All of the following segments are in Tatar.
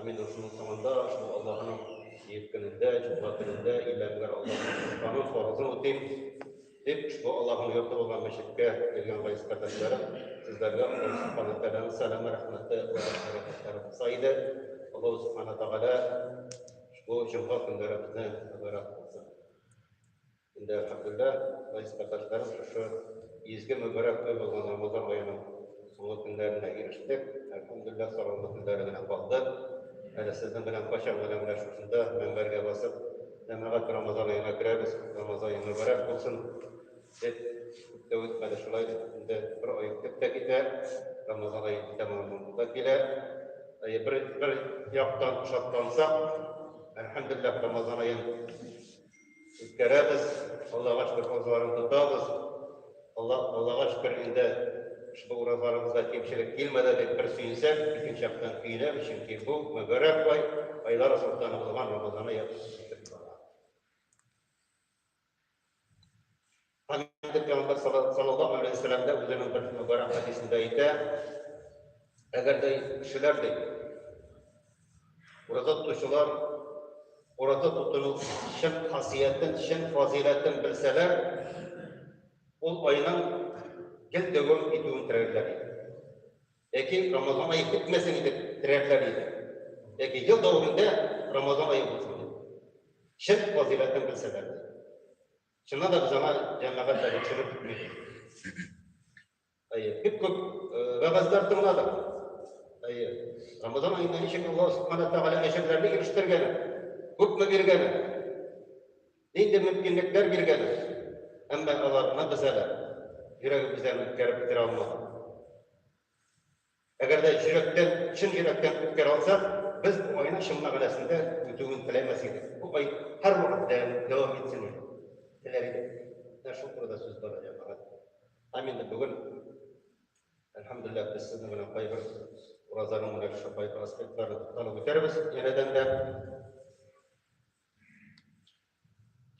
Амин рухының соңында шул Аллаһының җыеп көнендә, җомга көнендә имәмнәр Аллаһның канун фарызын үтим дип, шул Аллаһның йорты булган мәчеткә килгән гайз кардәшләрем, сезләргә Аллаһ Субхану тәгаләнең сәламе, рәхмәте ва бәрәкәтләре булса иде. Аллаһ Субхану тәгалә бу җомга көннәребезне мөбарәк булсын. Инде ахырында Борис Татарстанов шушы изге мөбарәк ай булган Рамазан аеның соңгы көннәренә ирештек. Әлхәмдүлилләһ, сагынгы көннәре генә калды. Әле сезнең белән кайчак гына менә шушында мөнбәргә басып, җәмәгать Рамазан аена керәбез, Рамазан ае мөбарәк булсын, дип, күп тә үтмәде шулай инде бер ай үтеп тә китә, Рамазан ае тәмамланып та килә. Әйе, бер яктан шатлансак, әлхәмдүлилләһ, Рамазан аен үткәрәбез, Аллага шөкер, уразаларны тотабыз. Алла, Аллага шөкер, инде ошбу уразаларыбызда кимчелек килмәде дип бер сөенсәк, икенче яктан көенәбез, чөнки бу мөбарәк ай, айлар солтаны булган Рамазаны яхшы итеп бара. Хәзрәт Пәйгамбәр саллаллаһу алейһи ва сәлләм дә үзенең бер мөбарәк хәдисендә әйтә, әгәр дә кешеләр ди, ураза тотучылар ураза тотуның чын хасиятен, чын фазыйләтен белсәләр, ул айның гел дәвам итүен теләрләр иде. Яки Рамазан ае бетмәсен итеп теләрләр иде. Яки ел дәвамында Рамазан ае булсын. Чын фазыйләтен белсәләр. Чыннан да без аңа җәмәгать әле чыгып китмәде. Әйе, бик күп вәгазьләр тыңладык. Әйе, Рамазан аенда ничек Аллаһ Субхана Тәгалә әҗерләрне ирештергән, күпме биргән, нинди мөмкинлекләр биргән, әмма аларны без әле йөрәгебездән үткәреп бетерә алмадык. Әгәр дә йөрәктән, чын йөрәктән үткәрә алсак, без бу айның чын мәгънәсендә үтүен теләмәс идек. Бу ай һәрвакыт дәвам итсен теләр идек. Менә шул турыда сүз бара, җәмәгать. Һәм инде бүген, әлхәмдүлилләһ, без сезнең белән кайбер уразаның менә шушы кайбер аспектларына тукталып үтәрбез янәдән дә.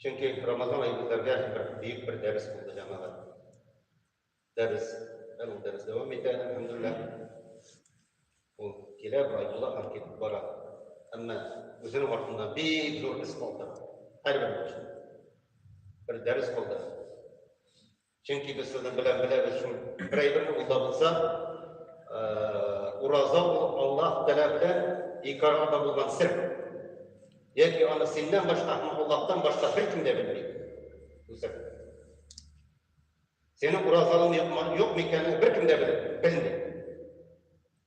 Чөнки Рамазан ае безләргә бер бөек бер дәрес булды, җәмәгать. Дәрес, әле дәрес дәвам итә, әлхәмдулилла. Ул килә, бара була, һәм китеп бара. Әмма үзенең артында бик зур эз калдыра. Һәрбер кеше. Бер дәрес калдыра. Чөнки без сезнең белән беләбез шул бер әйбер ул да булса, ураза ул Аллаһ Тәгалә белән ике арада булган сер. Яки аны синнән башка һәм Аллаһтан башка беркем дә белми. Үсәк. Сенең уразалың юкмы, юкмы икәнен беркем дә белми, белми.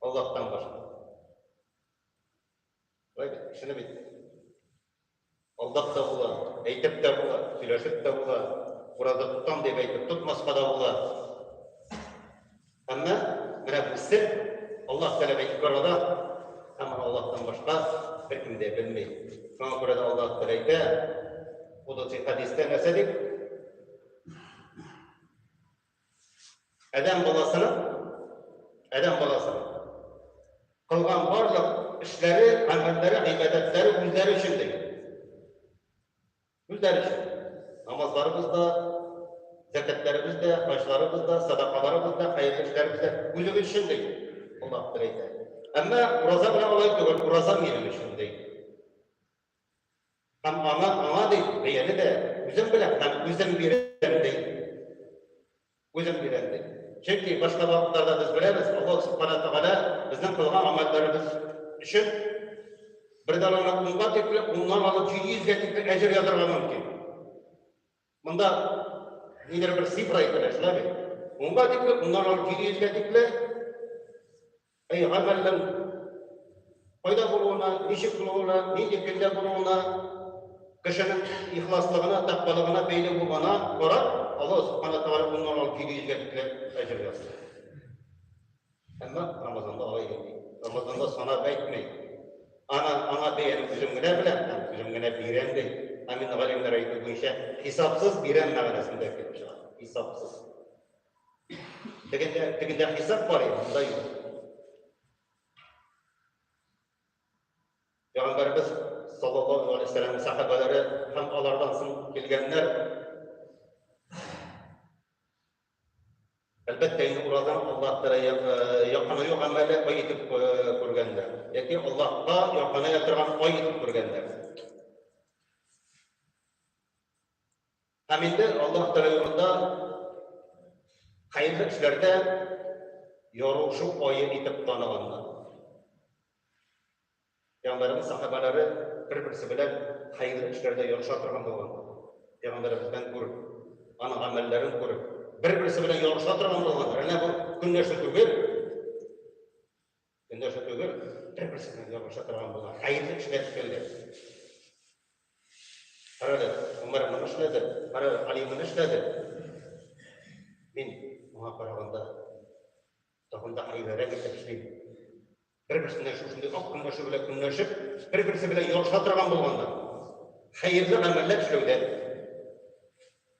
Аллаһтан башка. Бай бит, кешене бит. Алдап та була, әйтеп тә була, сөйләшеп тә була, ураза тотам дип әйтеп тотмаска да була. Әмма менә бу сер Аллаһ Тәгаләгә ике арада, һәм аны Аллаһтан башка беркем дә белми. Шуңа күрә дә Аллаһ Тәгалә әйтә, Кудуси хәдистә нәрсә дип? Адәм баласының Адәм баласының кылган барлык эшләре, гамәлләре, гыйбадәтләре үзләре өчен ди. Үзләре өчен. Намазларыбыз да, зәкәтләребез дә, хаҗларыбыз да, садакаларыбыз да, хәерле эшләребез дә үзебез өчен ди. Аллаһ бер әйтә. Әмма ураза белән алай түгел, ураза минем өчен ди. Һәм аңа, аңа ди, бәяне дә үзем беләм һәм үзем бирәм ди. Үзем өйрәндем. Чөнки башка вакытларда без беләбез, Аллаһу Субхана Тәгалә безнең кылган гамәлләребез өчен бер дананы унга тикле, уннан алып җиде йөзгә тикле әҗер язарга мөмкин. Монда нидер бер цифра әйтелә, шулай бит? Унга тикле, уннан алып җиде йөзгә тикле Әй гамәлнең кайда булуына, ничек булуына, нинди көндә булуына, кешенең ихласлыгына, тәкъвалыгына бәйле булуына карап, Аллаһ Субхана Тәгалә уннан алып җиде йөзгә тикле әҗер ясый. Әмма Рамазанда алай итми. Рамазанда санап әйтми. Ана аңа бәяне үзем генә беләм, һәм үзем генә бирәм ди. Ә мин галимнәр әйтү буенча хисапсыз бирәм мәгънәсендә килеп чыга. Хисапсыз. Тегендә, тегендә хисап бар иде, монда юк. Пәйгамбәрбез саллаллаһу алейһи вәсәлләм сахабалары һәм алардан соң килгәннәр Әлбәттә, инде уразан Аллаһ тәрә якынаю гамәле ай итеп күргәннәр. Яки Аллаһка якыная торган ай итеп күргәннәр. Һәм инде Аллаһ Тәгалә юлында хәерле эшләрдә ярышу ае итеп таныганнар. Пәйгамбәребез сахабалары бер-берсе белән хәерле эшләрдә ярыша торган булган. Пәйгамбәребездән күреп, аның гамәлләрен күреп, бер-берсе белән ярыша торган булган. Әнә бу көнләшү түгел. Көндәше түгел, бер-берсеннән ябыша торган булган хәерле эшләр эшләүдә. Карады, Умар моны эшләде, карады, Али моны эшләде. Мин моңа караганда тагын да хәерлерәк итеп эшлим. Бер-берсеннән шушындый ак көндәше белән көнләшеп, бер-берсе белән ярыша торган булганда, хәерле гамәлләр эшләүдә.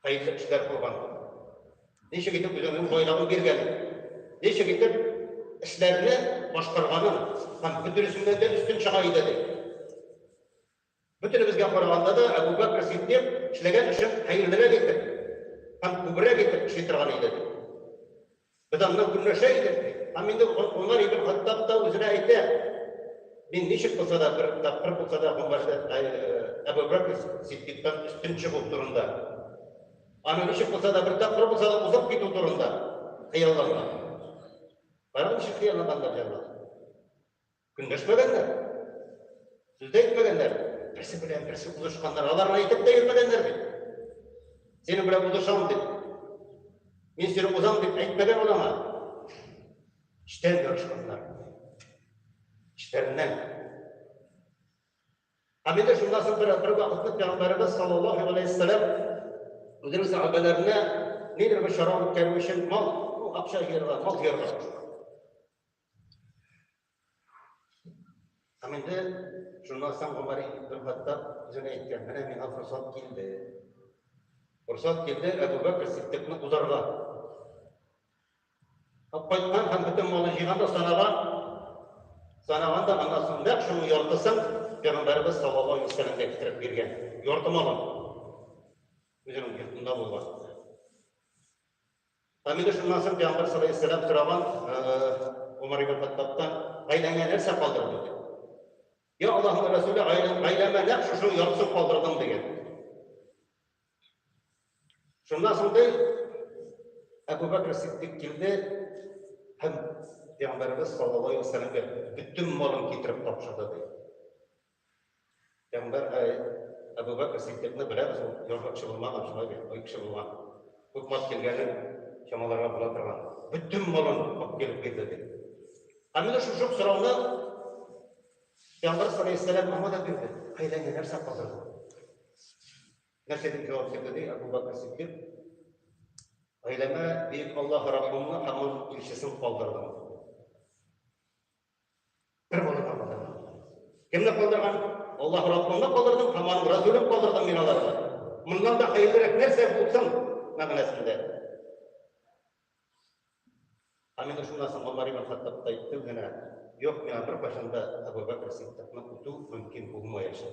Кайсы эшләр булган? Ничек итеп үзеңнең байлыгын биргән? Ничек итеп эшләрне башкарганын һәм бөтенесеннән дә өстен чыга иде ди. Бөтенебезгә караганда да Әбу Бәкр Сиддиқ эшләгән эшен хәерлерәк итеп һәм күбрәк итеп эшли торган иде ди. Без аннан көнләшә идек, ди. Һәм инде Гомәр ибн Хаттаб та үзенә әйтә, Мин ничек булса да, бер тапкыр булса да Гомәрдән, Әбү Бәкер Сиддиктан өстен чыгу турында, аның ничек булса да, бер тапкыр булса да узып китү турында хыялланган. Карагыз, ничек хыялланганнар җанлар. Көнләшмәгәннәр. Сүз дә әйтмәгәннәр. Берсе белән берсе узышканнар. Алар әйтеп тә йөрмәгәннәр бит. Синең белән узышам дип. Мин сине узам дип әйтмәгән ул аңа. Эчтән ярышканнар. Эчтәреннән. Һәм инде шуннан соң бер, бер вакытны Пәйгамбәребез саллаллаху алейхи вәссәләм үзенең сәхабәләренә нидер бер чара үткәрү өчен мал, ну, акча җыярга, мал җыярга. Һәм инде шуннан соң Гомәр бер хатта үзенә әйткән, менә миңа форсат килде. Форсат килде, Әбу Бәкер Сиддикны узарга. Һәм кайткан һәм бөтен малын җыйган да санаган. Санаган да аннан соң нәкъ шуның яртысын Пәйгамбәрбез саллаллаһу алейһи вәсәләмгә китереп биргән. Ярты малын. Үзенең йортында булган. Камилә шуннан соң пәйгамбәр салләһу сораган Умар ибн Хаттабтан, гаиләңә нәрсә калдырдың дип. Я Аллаһның Рәсүле, гаиләмә нәкъ шушы яртысын калдырдым дигән. Шуннан соң ди, Әбу Бәкр Сиддик килде һәм пәйгамбәрбез саллаллаһу алейһи ва сәлләмгә бөтен малын китереп тапшырды ди. Пәйгамбәр Әбу Бәкер Сиддикны беләбез, ул ярга кеше булмаган, шулай бит, бай кеше булган. Күп мал килгәнен чамаларга була торган. Бөтен малын алып килеп бирде ди. Ә менә шушы сорауны Пәйгамбәр саллаллаху аңа да бирде. Кайда генә нәрсә калдырды? Нәрсә дип җавап бирде ди Әбу Бәкер Сиддик? Гаиләмә бөек Аллаһ Раббымны һәм аның илчесен калдырдым. Бер гана калдырган. Кемне калдырган? Аллаһ Раббыңны калдырдың һәм аның Расулен калдырдың мин аларга. Моннан да хәерлерәк нәрсә булсын мәгънәсендә. Ә менә шуннан соң Омар ибн Хаттаб та әйтте генә, юк, миңа беркайчан да Әбу Бәкер Сиддикны үтү мөмкин булмаячак.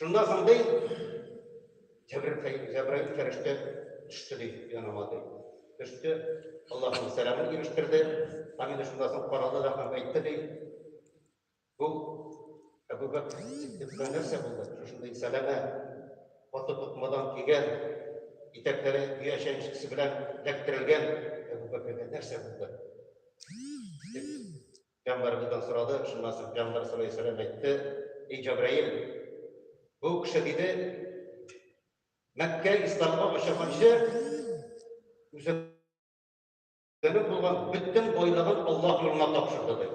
Шуннан соң ди, Җәбраил фәрештә төште ди, яныма ди. Төште, Аллаһның сәламен ирештерде, һәм инде шуннан соң карады да һәм әйтте ди, бу Әбу Бәкр Сиддикка нәрсә булды? Шушындый сәләмә, каты тукмадан кигән, итәкләре дөя чәнчкесе белән эләктерелгән Әбу Бәкргә нәрсә булды? Пәйгамбәр бездән сорады, шуннан соң Пәйгамбәр саллаллаһу галәйһи ва сәлләм әйтте, Эй Җәбраил, бу кеше диде, Мәккә исламга ашаганчы үзе булган бөтен байлыгын Аллаһ юлына тапшырды диде.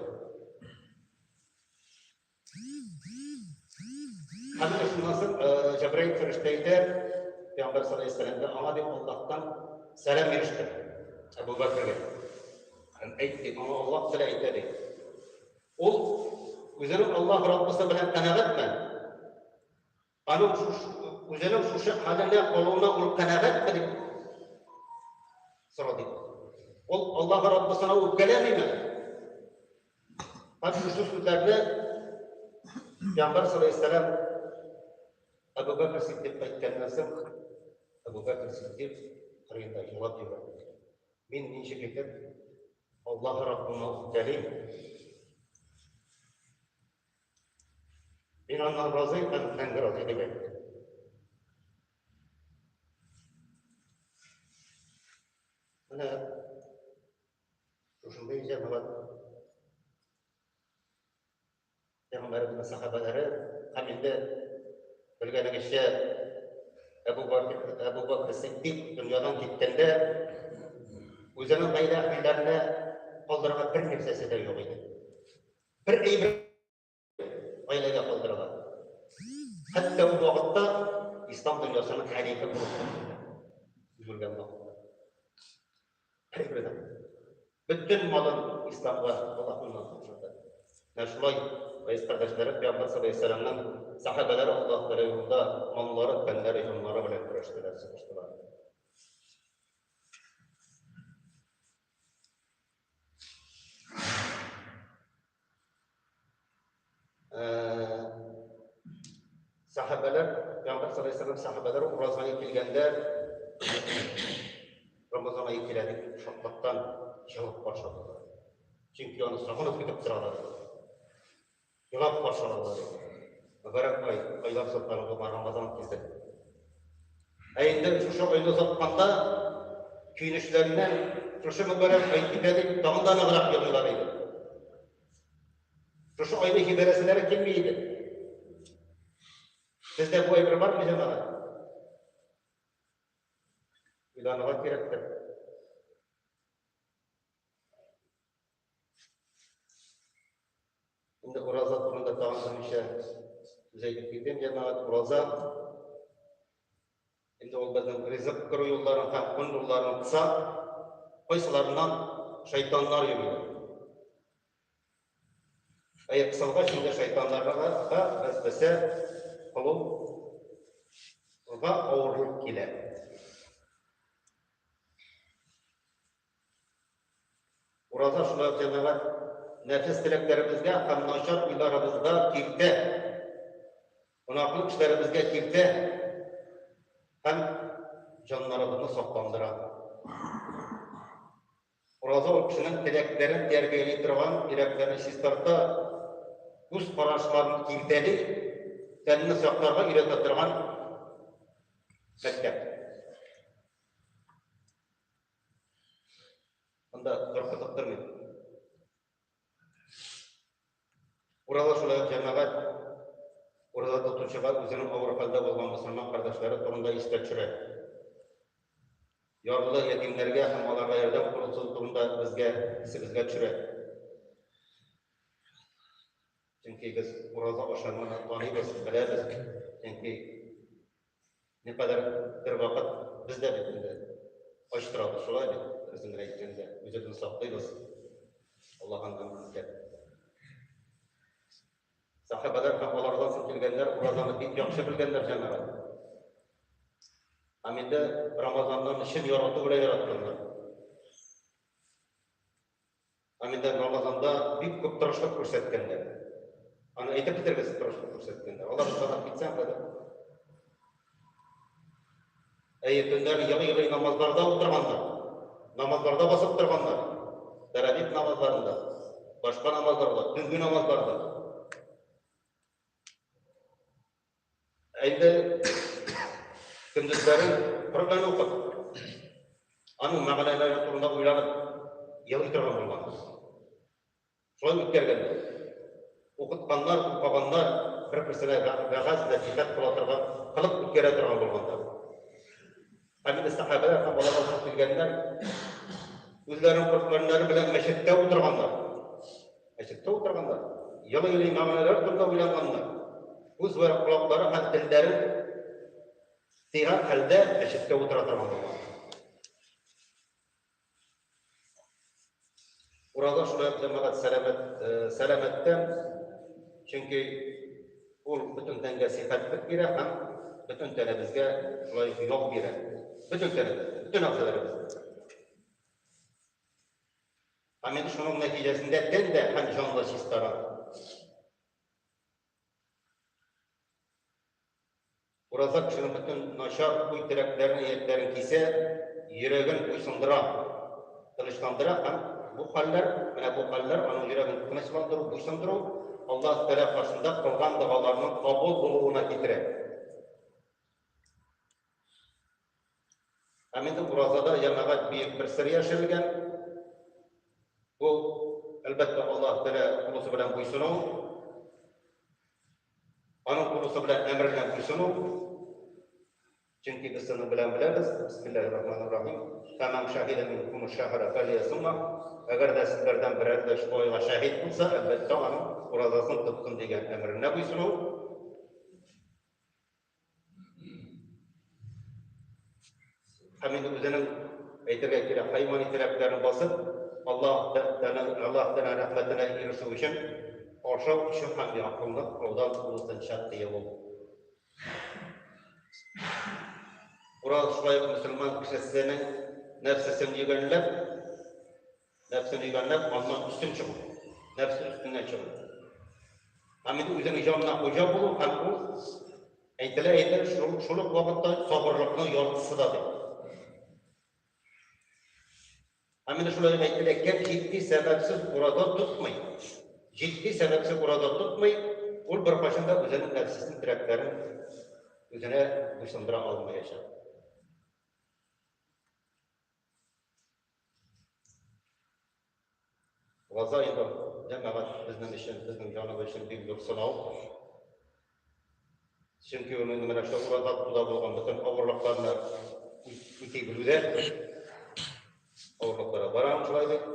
Хәзер шуннан Җәбраил фәрештә әйтә, Пәйгамбәр саллаллаһу аңа дип Аллаһтан сәлам иреште. Әбу Бәкергә. Һәм әйтте, аңа Аллаһ теле әйтә ди. Ул үзенең Аллаһ Раббысы белән канәгатьме? Аның шушы, үзенең шушы хәлендә калуына ул канәгатьме дип сорады. Ул Аллаһы Раббысына үпкәләмиме? Һәм шушы сүзләрне Пәйгамбәр саллаллаһу алейһи сәлам Әбу Бәкр Сиддиқка әйткәннән соң Әбу Бәкр Сиддиқ кырыенда елап җибәрде. Мин ничек итеп Аллаһы Раббыма үпкәлим? Мин аннан разый һәм мәңге разый дип әйтте. Менә шушындый җәмәгать Пәйгамбәребезнең сахабалары һәм инде белгәнегезчә Әбу Бакр Әбу Бакр Сиддик дөньядан киткәндә үзенең гаилә әһелләренә калдырган бер нәрсәсе дә юк иде. Бер әйбер гаиләгә калдыралар. Хәтта ул вакытта ислам дөньясының хәлифе булып үлгән вакытта. Әйбердән. Бөтен малын исламга Аллаһның хезмәте. Менә шулай Гайс кардәшләре Пәйгамбер саллаллаху алейһи вәсәлламның сахабәләре Аллаһ Тәгалә юлында маллары, тәннәре, җаннары белән көрәштеләр, сугыштылар. Сәхәбәләр, Пәйгамбәр саллаллаһу алейһи ва сәлләм сәхәбәләр уразганы килгәндә Рамазан ае килә дип шатлыктан җылып каршыладылар. Чөнки аны сагынып көтеп торалар. Елап каршы алалар. Мөбарәк ай, айлар сыртларында бар Рамазан килде. Ә инде шушы айны озатканда көенечләреннән шушы мөбарәк ай китә дип тагын да ныграк елыйлар иде. Шушы айны җибәрәселәре килми иде. Сездә бу әйбер бармы, җәмәгать? Уйланырга кирәктер. Инде ураза турында тагын берничә сүз әйтеп китим, җәмәгать. Ураза инде ул безнең ризык күрү юлларын һәм көн юлларын кыса, кайсыларыннан шайтаннар йөри. Әй кысылга инде шайтаннарга да без бесә кылу га авырлык килә. Ураза шулай ук җәмәгать нәфис теләкләребезгә һәм начар уйларыбызга киртә, гөнаһлы эшләребезгә киртә һәм җаннарыбызны сакландыра. Ураза ул кешенең теләкләрен тәрбияли торган, йөрәкләрне чистарта, күз карашларын киртәли, тәнне сакларга өйрәтә торган мәктәп. Анда тарта таптырмый. Урала шулай җәмәгать урала тотучыга үзенең авыр хәлдә булган мөселман кардәшләре турында истә төшерә. Ярлы ятимнәргә һәм аларга ярдәм курсызы турында безгә исебезгә төшерә. Чөнки без ураза ашарманы таныйбыз, беләбез. Чөнки Не кадәр бер вакыт без дә бит инде ач торабыз, шулай бит, дөресен әйткәндә, үзебезне саклыйбыз. Аллаһын гамр итеп. Сахабалар һәм алардан соң килгәннәр уразаны бик яхшы белгәннәр җәмәгать. Һәм инде Рамазаннан чын ярату белән яратканнар. Аминда Рамазанда бик күп тырышлык күрсәткәннәр. Аны әйтеп бетермәс тырышлык күрсәткәннәр. Алар санап китсәң хәзер. Әйе, төннәр елый-елый намазларда утырганнар. Намазларда басып торганнар. Тәрәбит намазларында, башка намазларда, төнге намазларда. Әйдә, көндезләрен Коръән укып, аның мәгънәләре турында уйланып, елый торган булганбыз. Шулай үткәргәндә, укытканнар, укыганнар бер-берсенә вәгазь, нәсихәт кыла торган, кылып үткәрә торган булганда, Хәмиле сәхәбәләр һәм аларга кушылып килгәннәр үзләренең корбаннары белән мәчеттә утырганнар. Мәчеттә утырганнар. Елый-елый мәгънәләр турында уйлаганнар. Үз вә колаклары һәм телләрен сыйган хәлдә мәчеттә утыра торган булган. Ураза шулай ук җәмәгать сәламәт, э, сәламәттән, чөнки ул бөтен тәнгә сихәтлек бирә һәм бөтен тәнебезгә шулай ук ял бирә. Бөтен тәнебез, бөтен әгъзаларыбыз. Һәм инде шуның нәтиҗәсендә тән дә һәм җан да чистара. Ураза кешенең бөтен начар уй-теләкләрен-ниятләрен кисә, йөрәген буйсындыра, тынычландыра һәм бу хәлләр, менә бу хәлләр аның йөрәген тынычландыру, буйсындыру, Аллаһ Тәгалә каршында кылган догаларының кабул булуына китерә. Һәм инде уразада җәмәгать бөек бер сер яшерелгән. Бу, әлбәттә, Аллаһ Тәгалә кулысы белән буйсыну, аның кулысы белән әмеренә буйсыну. Чөнки без аны белән беләбез. Бисмиллаһир рахманир рахим. Фәмән шәһидә минкум шәһәрә фәлиясума. Әгәр дә сезләрдән берәр дә шул айга шәһид булса, әлбәттә, аның уразасын тоткын дигән әмеренә буйсыну. Һәм инде үзенең әйтергә кирәк, хайван итәкләрен басып, Аллаһ Тәгаләнең Аллаһ Тәгаләнең рәхмәтенә ирешү өчен ашау өчен һәм якынлык алдан тулысынча тыелу. Урал шулай мөселман кешесенең нәрсәсен йөгәнләп, Нәфсен ибәрләп, аннан өстен чыгу. Нәфсе өстеннән чыгу. Һәм инде үзеңнең җанына хуҗа булу һәм ул әйтелә әйтер, шул, шул ук вакытта сабырлыкның яртысы да ди. Һәм инде шулай әйтелә, кем җитди сәбәпсез урада тотмый, җитди сәбәпсез урада тотмый, ул беркайчан да үзенең нәфсесен теләкләрен үзенә буйсындыра алмаячак. Газа ибр, җәмәгать безнең өчен, безнең җаныбыз өчен бик зур сынау. Чөнки ул инде менә шул ураза туда булган бөтен авырлыкларны үти белүдә авырлыкларга барам шулай дип.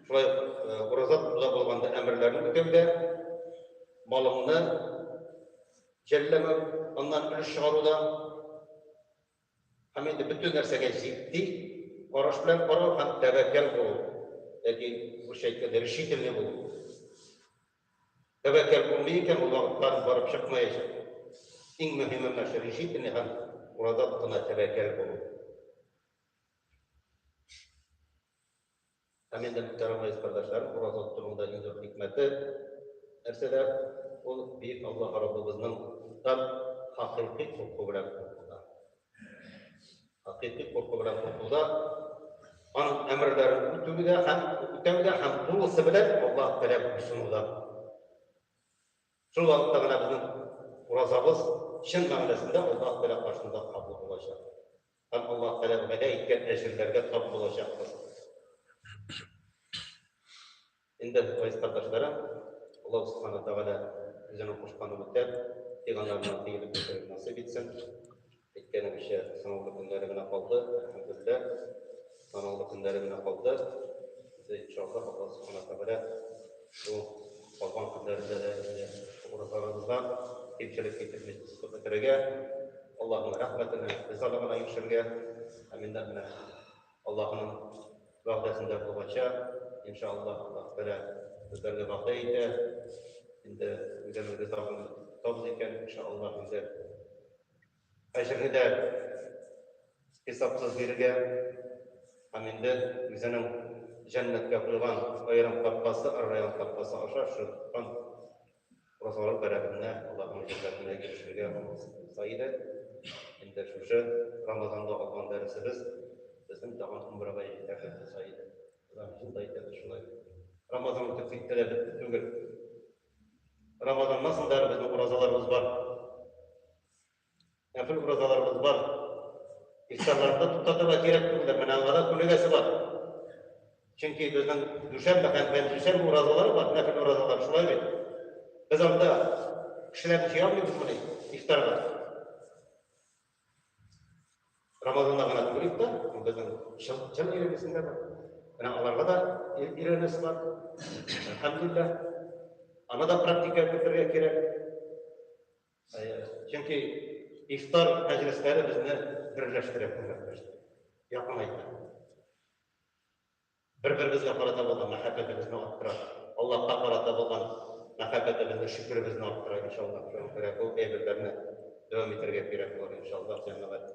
Шулай э, ураза туда булганда әмерләрне үтәүдә малымны Җәлләмәү, аннан өлеш чыгару да һәм инде бөтен нәрсәгә җитди караш белән карау һәм тәвәккәл булу. Яки русча әйткәндә решительный булу. Тәвәккәл булмый икән, ул вакытта барып чыкмаячак. Иң мөһиме менә шул решительный һәм урадан гына тәвәккәл булу. Ә мин дә күтәрәм гәзит кардәшләрем, ураза тотуның иң зур хикмәте нәрсәдә? Ул Бөек Аллаһ Раббыбызның тап хакыйкый курку белән куркуда. Хакыйкый курку белән куркуда аның әмерләрен үтүгә һәм үтәүгә һәм тулысы белән Аллаһ Тәгалә буйсынуда. Шул вакытта гына безнең уразабыз чын мәгънәсендә Аллаһ Тәгалә каршында кабул булачак. Һәм Аллаһ Тәгаләнең вәгъдә иткән әҗерләргә тап булачакбыз. Инде, газиз кардәшләрем, Аллаһ Субхана Тәгалә үзенең кушканы үтәп, пәйгамбәренә тиелеп яшәргә насыйп итсен. Әйткәнебезчә, соңгы көннәре генә калды, әлхәмдүлилләһ. Санаулы көннәре генә калды. Инде иншаллаһ, Аллаһ Субхана Тәгалә бу калган көннәрендә дә инде уразаларыбызга кимчелек китерми кылып бетерергә, Аллаһның рәхмәтенә, ризалыгына ирешергә, һәм инде менә Аллаһның вәгъдәсендә булганча, иншаллаһ, Аллаһ Тәгалә безләргә вәгъдә итә. Инде үзебезгә тагын тотабыз икән, иншаллаһ, инде Әҗерне хисапсыз бирергә һәм инде үзенең җәннәткә куйган аерым капкасы, ар-район капкасы аша чыккан розалар бәрабәренә аларның җәннәтенә ирешергә насыйп булса иде. Инде шушы Рамазанда алган дәресебез безнең тагын гомергә җитәрлек булса иде. Алар шул да әйтәбез шулай. Рамазан үтеп китте дә бетте түгел. Рамазаннан соң да безнең уразаларыбыз бар. Әфил уразаларыбыз бар. Ихсанларында туктатырга кирәк түгел, менә аңа да күнегәсе бар. Чөнки безнең дүшәмбе һәм пәнҗешәмбе уразалары бар, нәфил уразалар, шулай бит. Без анда кешеләрне җыя алмыйбызмыни ифтарга? Рамазанда гына түгел ифтар, ул безнең чын, чын ирегесендә бар. Менә аларга да өйрәнәсе бар. Әлхәмдулилла. Аны да практикага кертергә кирәк. Чөнки ифтар мәҗлесләре безне берләштерә, күмәкләштерә, якынайта. Бер-беребезгә карата булган мәхәббәтебезне арттыра. Аллаһка карата булган мәхәббәтебезне, шөкеребезне арттыра, иншалла. Шуңа күрә бу әйберләрне дәвам итәргә кирәк булыр, иншалла, җәмәгать.